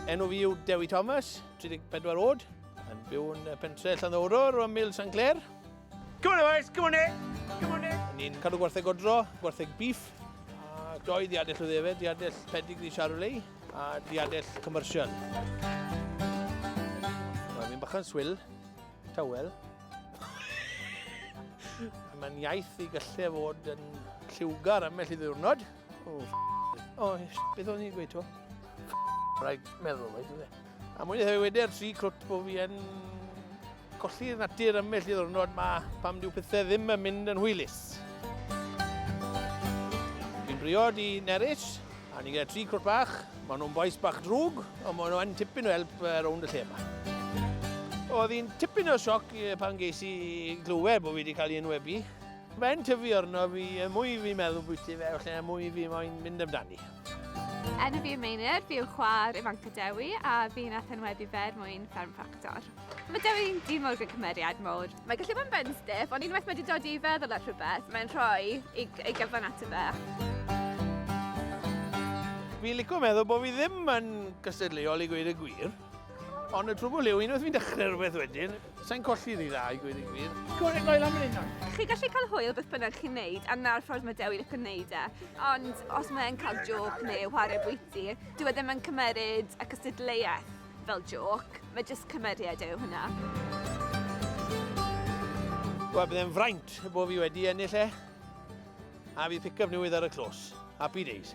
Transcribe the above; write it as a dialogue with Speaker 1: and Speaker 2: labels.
Speaker 1: Enw fi yw Dewi Thomas, 34 oed, yn byw yn pentre Llanddowror o Mil San Clair. Come on boys, come on in, come on in. Ni'n cadw gwartheg odro, gwartheg beef, a doi ddiadell o ddefed, ddiadell pedigree Charolei a ddiadell commercial. Mae'n mynd bach yn swil, tawel. Mae'n iaith i gallu fod yn lliwgar ymell i ddiwrnod. O, oh, o, oh, beth o'n i'n gweud to? Rhaid meddwl, rhaid i A mwyn i hefyd wedi'r tri cwt bod fi yn colli'r natur ymell i ddwrnod ma pam diw pethau ddim yn mynd yn hwylus. Fi'n briod i Neris, a ni gyda tri cwrt bach. Mae nhw'n boes bach drwg, ond mae nhw'n tipyn o help uh, rownd y lle yma. Oedd hi'n tipyn o sioc pan geis i glywed bod fi wedi cael ei enwebu. Mae'n tyfu arno fi, y mwy fi'n meddwl bwyty fe, felly y mwy fi moyn mynd amdani. Enw fi
Speaker 2: yw Meinir, fi yw chwa'r ifanc o Dewi a fi'n athenwebu fe er mwyn fferm ffactor. Mae Dewi'n dyn mawr gyda cymeriad mawr. Mae gallu bod yn benstiff, ond unwaith mae wedi dod i feddwl ar rhywbeth, mae'n rhoi ei, ei gyfan ato fe.
Speaker 1: Fi'n licio meddwl bod fi ddim yn gystadleuol i gweud y gwir. Ond y trwbl yw, unwaith fi'n dechrau rhywbeth wedyn, sa'n colli rhi dda i gweud y gwir. Gwr yn goel am hyn Chi gallu cael hwyl beth
Speaker 2: bynnag chi'n neud, a na'r ffordd mae Dewi licio neud e. Ond os mae'n cael joc neu whare bwyty, dwi e ddim yn cymeryd y cystadleuaeth fel joc, mae jyst cymeriad yw hwnna.
Speaker 1: Wel, byddai'n fraint bod fi wedi ennill e. A fydd picaf newydd ar y clos. Happy days.